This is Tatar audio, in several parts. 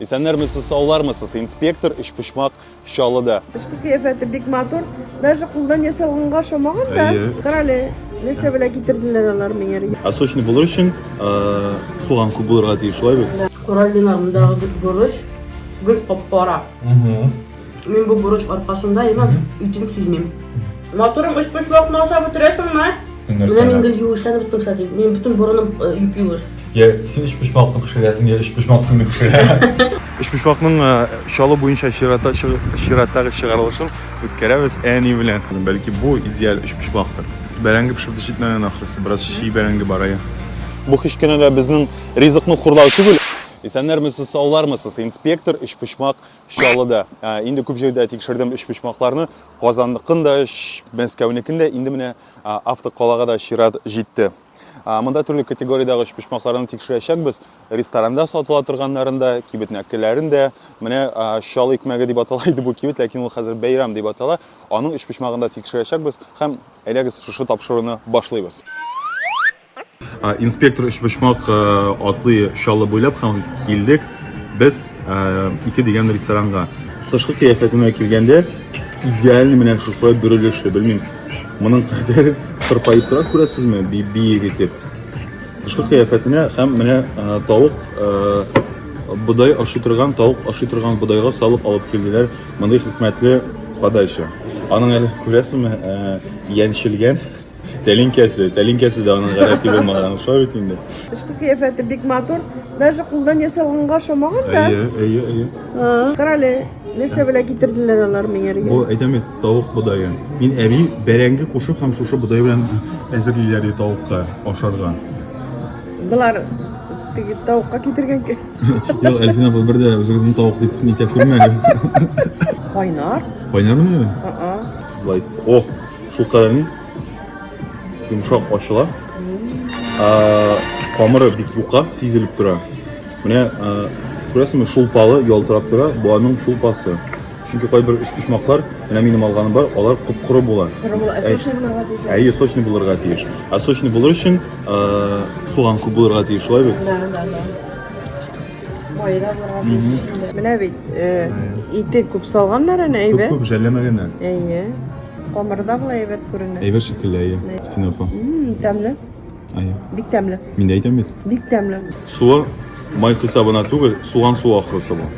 Исәннәрмесез, саулармысыз, инспектор өчпочмак чалыда. Эшке кыяфәте бик матур, даже кулдан ясалганга ошамаган да. Әйе. Карале, нәрсә белә китерделәр алар миңа. Ә сочный булыр өчен суган күп булырга тиеш, шулай бит? Кораллиларындагы борыч гел кап-кара. Мин бу бурыч аркасында имам үтен сизмим. Матурым өч почмакны ашап бетерәсеңме? Менә мин гел юешләнеп беттем, кстати. Мин бөтен борыным юп-юеш. Я син өч почмакны пешерәсең, я өч почмак сине пешерә. Өч почмакның чалу буенча чирата чираттагы чыгарылышын үткәрәбез әни белән. Бәлки бу идеаль өч почмактыр. Бәрәңге пешеп җитмәгән ахрысы, бераз чий бәрәңге бар ая. Бу кечкенә дә безнең ризыкны хурлау түгел. Исәннәрмесез, саулармысыз, инспектор, өчпочмак Чаллыда. Ә, инде күп җирдә тикшердем өчпочмакларны. Казанныкын да, Мәскәүнекен дә, инде менә автокалага да чират җитте. Монда төрле категориядәге өчпочмакларны тикшерәчәкбез. Ресторанда сатыла торганнарын да, кибетнәкеләрен дә. Менә чал икмәге дип атала иде бу кибет, ләкин ул хәзер бәйрәм дип атала. Аның өчпочмагын да тикшерәчәкбез һәм әйдәгез шушы тапшыруны башлыйбыз. Инспектор Өчпочмак атлый Чаллы буйлап һәм килдек без ике дигән ресторанга. Тышкы кыяфәтенә килгәндә, идеаль менә шулай бөрелеше, белмим. Моның кадәр тырпаеп тора күрәсезме, биек итеп. Тышкы кыяфәтенә һәм менә тавык бодай ашый торган, тавык ашый торган бодайга салып алып килделәр мондый хикмәтле подача. Аның әле күрәсезме, яньчелгән. Тәлинкәсе, тәлинкәсе дә аның гадәти булмаган шулай бит инде. Тышкы кыяфәте бик матур. Даже кулдан ясалганга ошамаган да. Әйе, әйе, әйе. Карале, нәрсә белә китерделәр алар миңа. Бу әйтәм бит, тавык бодае. Мин әби бәрәңге кушып һәм шушы бодай белән әзерлиләр ди тавыкка ашарга. Болар теге тавыкка китергән кебек. Юк, Әлфина апа бер дә үзегезне тавык дип нитә күрмәгез. Кайнар. Кайнармы? Ага. Лайк. Ох, Шулкадәрле йомшак ачыла. Камыры бик юка, сизелеп тора. Менә күрәсеңме, шулпалы ялтырап тора, бу аның шулпасы. Чөнки кайбер өчпочмаклар, менә минем алганым бар, алар куп-коры була. Әйе, сочный булырга тиеш. Ә сочный булыр өчен суган күп булырга тиеш, шулай бит? Да, да, да. Байра булырга тиеш. Менә бит, ите күп салганнар әнә әйбәт. Күп-күп жәлләмәгәннәр. Әйе. Камырда була әйбәт күренә. Әйбәт шикелле, әйе. Син апа. Тәмле. Әйе. Бик тәмле. Мин дә әйтәм бит. Бик тәмле. Суы май хисабына түгел, суган суы ахрысы бу.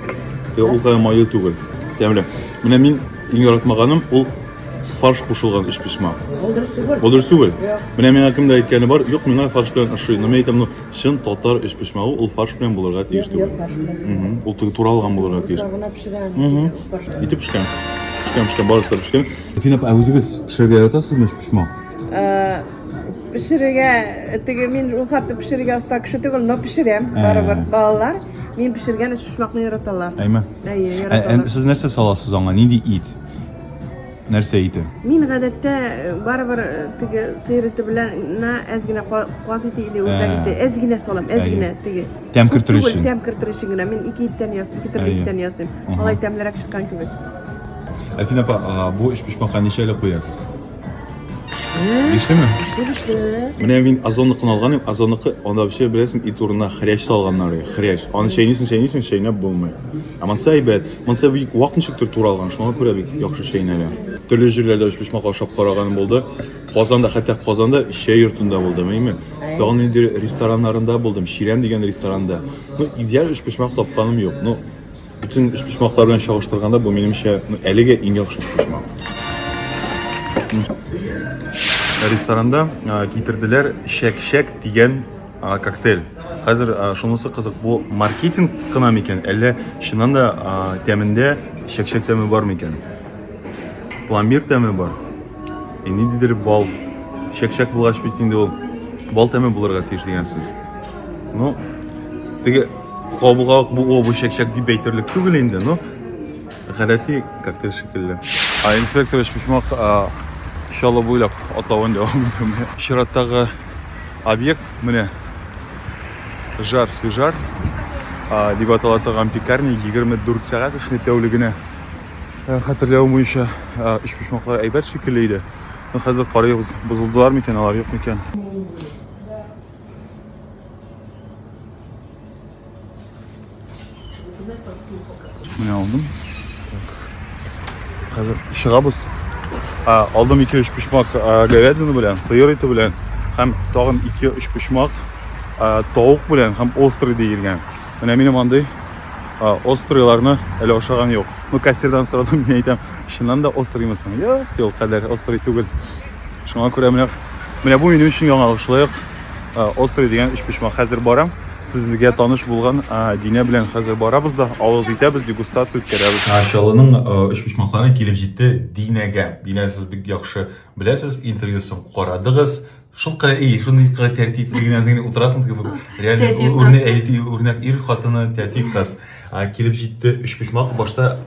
Ул кадәр майлы түгел. Тәмле. Менә мин иң яратмаганым ул фарш кушылган өч пешмак. Ул дөрес түгел. Ул дөрес түгел. Менә миңа кемдер әйткәне бар, юк, миңа фарш белән ошый. Но мин әйтәм, ну, чын татар өч пешмагы ул фарш белән булырга тиеш түгел. Ул туралган булырга тиеш. Итеп пешкән. Пешкән, пешкән, барысы да пешкән. Фин апа, ә үзегез пешерергә яратасызмы пишмак? Пешерергә теге мин ул хәтле пешерергә оста кеше түгел, но пешерәм. Барыбер балалар мин пешергән пишмакны яраталар. Әйме? Әйе, Ә, яраталар. ә сез нәрсә саласыз аңа? Нинди ит? Нәрсә ите? Мин гадәттә э, барыбер э, теге сыер ите белән на әз генә ка- каз ите или үрдәк Ә. ите әз генә салам, әз Әйе. генә теге Тәм кертер өчен. Тәм кертер өчен генә. Мин ике иттән ясыйм, ике төрле иттән ясыйм. Алай тәмлерәк чыккан кебек. Әлфин апа, бу өч пешмәккә ничә әле куясыз? Бишлеме? Бишле. Менә мин озонлыкны алганым, озонлыкы анда вообще беләсең, ит урынына хрящ салганнар, хрящ. Аны чәйнисең, чәйнисең, чәйнәп булмый. Ә монсы әйбәт. Монсы бик вак ничектер туралган, шуңа күрә бик яхшы чәйнәлә. Төрле җирләрдә өч пешмәк ашап караганым булды. Казанда, хәтта Казанда чәй йортында булдым, әйме? Тагын инде рестораннарында булдым. Чирәм дигән ресторанда. Ну, идеаль өчпочмак тапканым юк. Ну, бөтен өчпочмаклар белән чагыштырганда бу минемчә, ну, әлегә иң яхшы өчпочмак. Ресторанда а, китерделәр шәк-шәк дигән а, коктейль. Хәзер а, шунысы кызык, бу маркетинг кына микән, әллә чыннан да а, тәмендә шәк-шәк тәме бар микән? пломбир тәме бар и ниндидер бал чәкчәк булгач бит инде ул бал тәме булырга тиеш дигән сүз ну теге кабуга ук бу бу чәкчәк дип әйтерлек түгел инде но гадәти коктейль шикелле а инспекторович письмов чалы буйлап атлавын дәвам итәме чираттагы объект менә жар свежар дип атала торган пекарня 24 сәгать эшли тәүлегенә Э, хәтерләвем буенча э, өчпочмаклар әйбәт шикелле иде но хәзер карыйбыз бозылдылар микән алар юк микән менә алдым хәзер чыгабыз алдым ике өч почмак говядина белән сыер ите белән һәм тагын ике өч почмак тавык белән һәм острый диелгән менә минем андый Острыйларны әле ашаган юк. Ну, кассирдан сорадым, мин әйтәм, чыннан да острыймы соң? Юк, ди, ул кадәр острый түгел. Шуңа күрә менә менә бу минем өчен яңалык. Шулай ук острый дигән өчпочмак хәзер барам. Сезгә таныш булган Динә белән хәзер барабыз да, авыз итәбез, дегустация үткәрәбез. Чаллының өчпочмаклары килеп җитте Динәгә. Динә, сез бик яхшы беләсез, интервьюсын карадыгыз. Шул кара и, шуны кара тәртип дигән дигән утырасың дип. Реально үрнәк әйти, үрнәк ир хатыны тәртип кыз. Килеп җитте өч почмак башта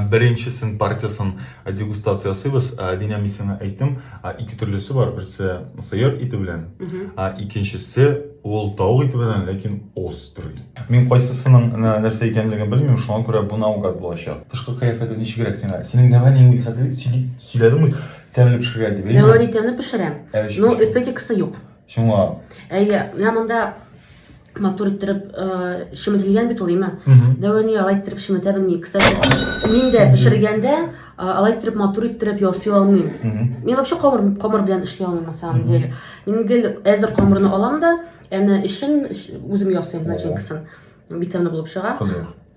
беренчесен партиясын дегустация ясыйбыз. Динә мин сиңа әйттем, ике төрлесе бар. Берсе сыер ите белән, икенчесе ул тавык ите белән, ләкин острый. Мин кайсысының нәрсә икәнлеген белмим, шуңа күрә бу наугад булачак. Тышкы кыяфәте ничегрәк сиңа? Синең дәвә нинди хәтле сөйләдең бит. Тәмле пешергән дип әйме? Нәвани тәмле пешерәм, но эстетикасы юк. Шуңа. Әйе, менә монда матур иттереп шеметелгән бит ул име? Дәвани алай иттереп шеметә белми. Кстати, мин дә пешергәндә алай иттереп матур иттереп ясый алмыйм. Мин вообще камыр камыр белән эшли алмыйм на самом деле. Мин гел әзер камырны алам да, әнә эшен үзем ясыйм начинкасын. Бик тәмле булып чыга. Кызык.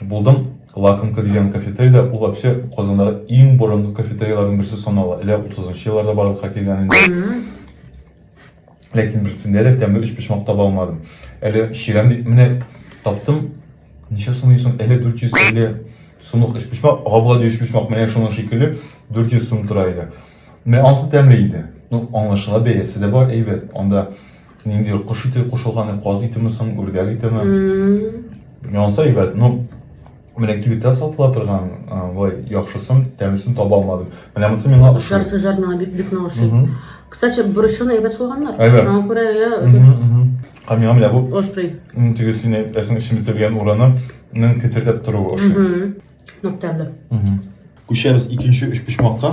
Булдым. Лакомка дигән кафетерий да, ул вообще Казандагы иң борынгы кафетерияләрнең берсе санала. Әле 30-нчы елларда барлыкка килгән инде. Ләкин берсендә дә тәмле өчпочмак таба алмадым. Әле чирәм дип менә таптым. Ничә сумлый соң? Әле 450 сумлык өчпочмак, габлади өчпочмак менә шуның шикелле 400 сум тора иде. Менә ансы тәмле иде. Ну, аңлашыла бәясе дә бар, әйбәт. Анда Нинди кош ите кушылган, каз итеме соң, үрдәк итеме? Янса әйбәт, но менә кибеттә сатыла торган былай яхшысын, тәмлесен таба алмадым. Менә монысы миңа ошый. Жарсы жар миңа бик бик ошый. Кстати, борычын әйбәт салганнар. Шуңа күрә я. Һәм миңа менә бу. Острый. Теге сине әсең эчен бетергән урыны ның кетердәп торуы ошый. Нык тәмле. Күчәбез икенче өчпочмакка.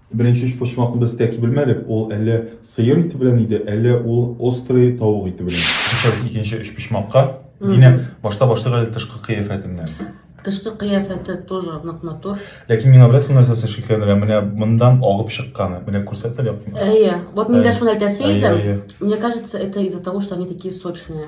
Беренче өчпочмакны без тәки белмәдек, ул әллә сыер ите белән иде, әллә ул острый тавык ите белән. Күчәбез икенче өчпочмакка. Динә, башта башлыйк әле тышкы кыяфәтеннән. Тышкы кыяфәте тоже нык матур. Ләкин миңа беләсең нәрсәсе шикләндерә, менә моннан агып чыкканы. Менә күрсәт әле якынрак. Әйе. Вот мин дә шуны әйтәсе идем. Мне кажется, это из-за того, что они такие сочные.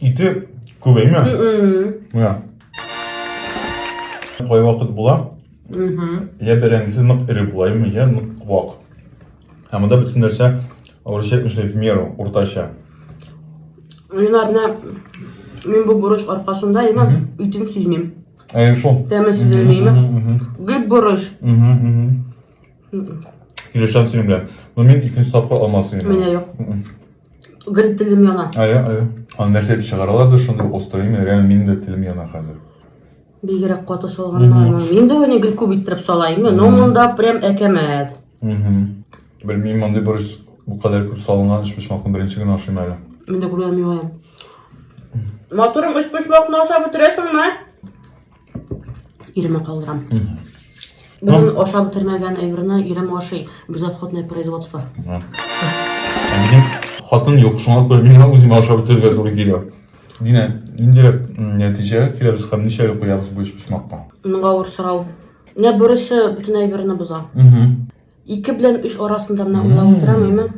Ите күбәйме? Менә. Кай вакыт була? Я бәрәңгесе нык эре булаймы, я нык вак. Ә монда бөтен нәрсә урысча әйтмешли в меру, уртача. Юнар, менә мин бу бурыч аркасында имә үтен сизмим. Әй шул. Тәме сизелмиме? Гел бурыч. Килешәм синең белән. Но мин икенче тапкыр алмасын. Менә юк. Гел телем яна. Ая, ая. Аны нәрсә дип чыгаралар да шундый острый имя. Реально минем дә телем яна хәзер. Бигрәк каты салганнармы? Мин дә уйны гел күп иттереп салаймы, но монда прям әкәмәт. Мгм. Белмим, мондый борщ бу кадәр күп салынган өч почмакны беренче генә ашыйм әле. Мин дә күргәнем юк әле. Матурым, өч почмакны ашап бетерәсеңме? Иремә калдырам. Бүген ашап бетермәгән әйберне ирем ашый. Безотходное производство. Минем хатын юк, шуңа күрә миңа үземә ашап бетерергә туры килә. Динә, инде нәтиҗә киләбез һәм ничә куябыз бу өч почмакка? Моның авыр сорау. Менә бурычы бөтен әйберне боза. Ике белән өч арасында менә уйлап утырам, әймен.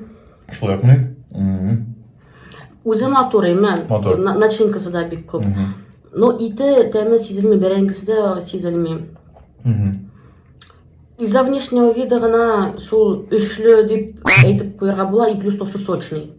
Шулай ук мин. Үзе матур, әймен. Начинкасы да бик күп. Но ите тәме сизелми, бәрәңгесе дә сизелми. Из-за внешнего вида гына шул өчле дип әйтеп куярга була, и плюс то, что сочный.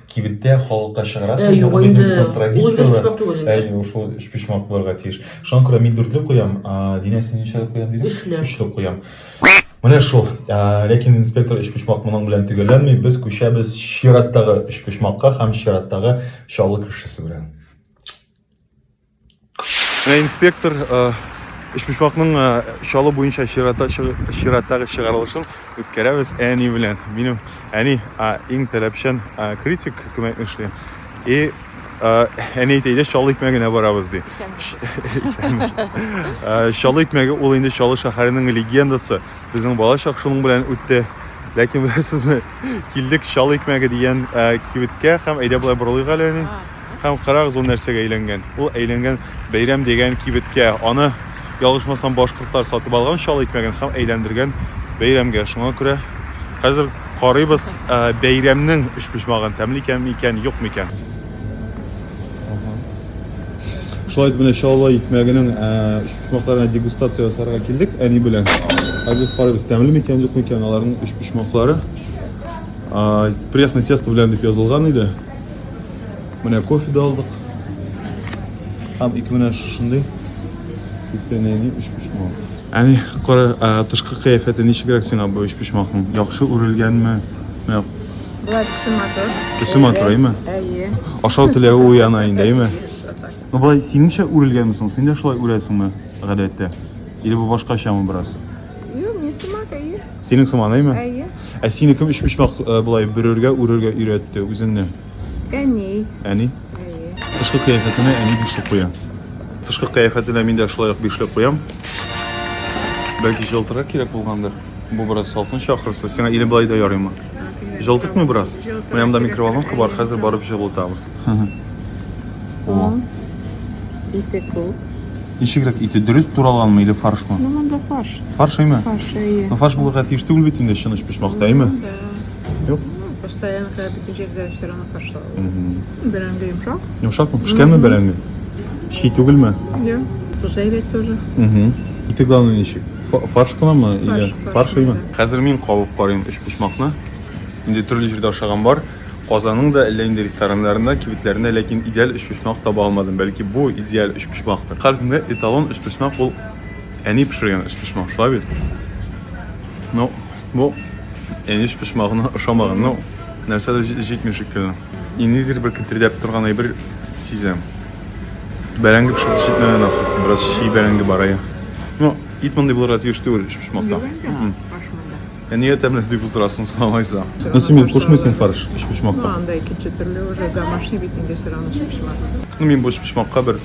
Кибеттә халыкка чыгарасың. Ә, юк, инде, безнең ул традицияләр. Ул инде өчпочмак түгел инде. Әйе, ул шул өчпочмак булырга тиеш. Шуңа күрә мин дүртлек куям, Динә син ничәлек куям дидең? Өчлек. Өчлек куям. Менә шул. Ләкин инспектор өчпочмак моның белән төгәлләнми, без күчәбез чираттагы өчпочмакка һәм чираттагы Чаллы кешесе белән. Менә инспектор өчпочмакның чалу буенча чираттагы чыгарылышын үткәрәбез әни белән. Минем әни иң таләпчән критик күмәкне эшли. И әни әйтә, идеш чалу икмәге генә барабыз ди. Чалу икмәге ул инде Чалу шәһәренең легендасы. Безнең балачак шуның белән үтте. Ләкин беләсезме, килдек чалу икмәге дигән кибеткә һәм әйдә болай борылыйк әле әни. Һәм карагыз ул нәрсәгә әйләнгән. Ул әйләнгән бәйрәм дигән кибеткә. Аны ялгышмасам башкортлар сатып алган чал икмәген һәм әйләндергән бәйрәмгә. Шуңа күрә хәзер карыйбыз ә, бәйрәмнең өчпочмагын тәмле икән микән, юк микән. Шулай итеп менә чаллы икмәгенең ә, өчпочмакларына дегустация ясарга килдек әни белән. Хәзер карыйбыз тәмле микән, юк микән аларның өчпочмаклары. Пресный тесто белән дип язылган иде. Менә кофе да алдык. Һәм ике менә шушындый күпенәйни өч почмак. Әни, кара, тышкы кыяфәте ничегрәк сиңа бу өч почмакның? Яхшы үрелгәнме? Менә Болай төсе матур. Төсе матур, әйме? Әйе. Ашау теләве уяна инде, әйме? Ну, болай синеңчә үрелгәнме соң? Син дә шулай үрәсеңме, гадәттә? Или бу башкачамы бераз? Юк, мин сымак, әйе. Синең сыман, әйме? Әйе. Ә сине кем өч почмак э, былай бөрергә, үрергә өйрәтте үзеңне? Әни. Әни? Әйе. Тышкы кыяфәтенә әни бишлек куя. Тышкы кыяфәтенә мин дә шулай ук бишлек куям. Бәлки җылтырак кирәк булгандыр. Бу бераз салкын чакырса, сиңа или былай да ярыймы? Җылтытмый бераз? Менә монда микроволновка бар, хәзер барып җылытабыз. О. Ите күп. Ничегрәк ите? Дөрес туралганмы или фаршмы? Ну, монда фарш. Фарш әйме? Фарш, әйе. Ну, фарш булырга тиеш түгел бит инде чыныч пешмакта, әйме? Ну, да. Юк. Ну, постоянно, когда бөтен җирдә все равно фарш салалар. Бәрәңге йомшак. Йомшакмы? Пешкәнме бәрәңге? Чи түгелме? Йә. Туза әйбәт тоже. Ите главное ничек? Фарш кынамы или фарш әйме? Хәзер мин кабып карыйм өч почмакны. Инде төрле җирдә ашаган бар. Казанның да әллә нинди рестораннарында, кибетләрендә ләкин идеаль өчпочмак таба алмадым. Бәлки бу идеаль өчпочмактыр. Һәркемгә эталон өчпочмак ул әни пешергән өчпочмак, шулай бит? Ну, бу әни өчпочмагына ошамаган, ну, нәрсәдер җитми шикелле. И нидер бер кетердәп торган әйбер сизәм. Бәрәңге пешеп җитмәгән ахрысы, бераз чий бәрәңге бар, әйе. Ну, ит мондый булырга тиеш түгел өчпочмакта. Юк инде, башмында. Әнигә тәмле дип утырасың сорамайса. Ну син бит кушмыйсың фарш өчпочмакка. Ну анда икенче төрле уже домашний бит инде все равно өчпочмак. Ну мин бу өчпочмакка бер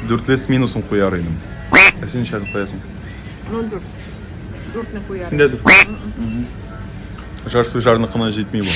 дүртле с минусом куяр идем. Ә син ничә куясың? Ну дүрт. Дүртне куяр. Син дә дүрт. Жар свой жарныкына җитми бу.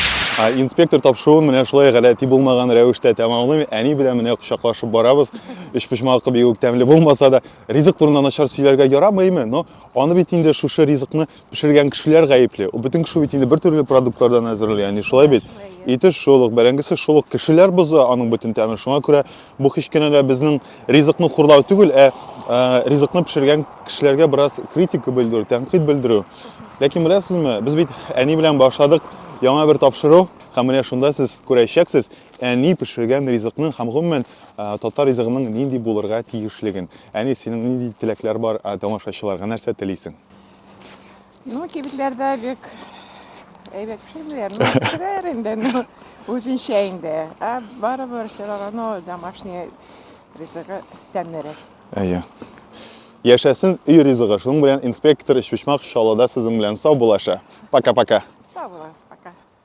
Инспектор тапшыруын менә шулай галәти булмаган рәвештә тәмамлыйм. Әни белән менә кочаклашып барабыз. Өчпочмакы бигүк тәмле булмаса да, ризык турында начар сөйләргә ярамыймы? Но Аны бит инде шушы ризыкны пешергән кешеләр гаепле. Бөтен кеше бит инде бер төрле продуктлардан әзерли, яни шулай бит. Ите шулык, бәрәңгесе шулык, кешеләр бозы аның бөтен тәмен. Шуңа күрә бу һич кенә дә безнең ризыкны хурлау түгел, ә, ә ризыкны пешергән кешеләргә бераз критика белдерү, тәнкыйть белдерү. Ләкин беләсезме, без бит әни белән башладык яңа бер тапшыру, һәм менә шунда сез күрәчәксез әни пешергән ризыкны һәм гомумән татар ризыгының нинди булырга тиешлеген. Әни, синең нинди теләкләр бар ә, тамашачыларга нәрсә телисең? Ну, кибетләрдә бик әйбәт пешермиләр. Ну, пешерәләр инде, ну, үзенчә инде. Ә барыбер все равно домашний ризыгы тәмлерәк. Әйе. Яшәсен өй ризыгы. Шуның белән инспектор Өчпочмак Чаллыда сезнең белән сау булаша. Пока-пока. Сау булыгыз, пока.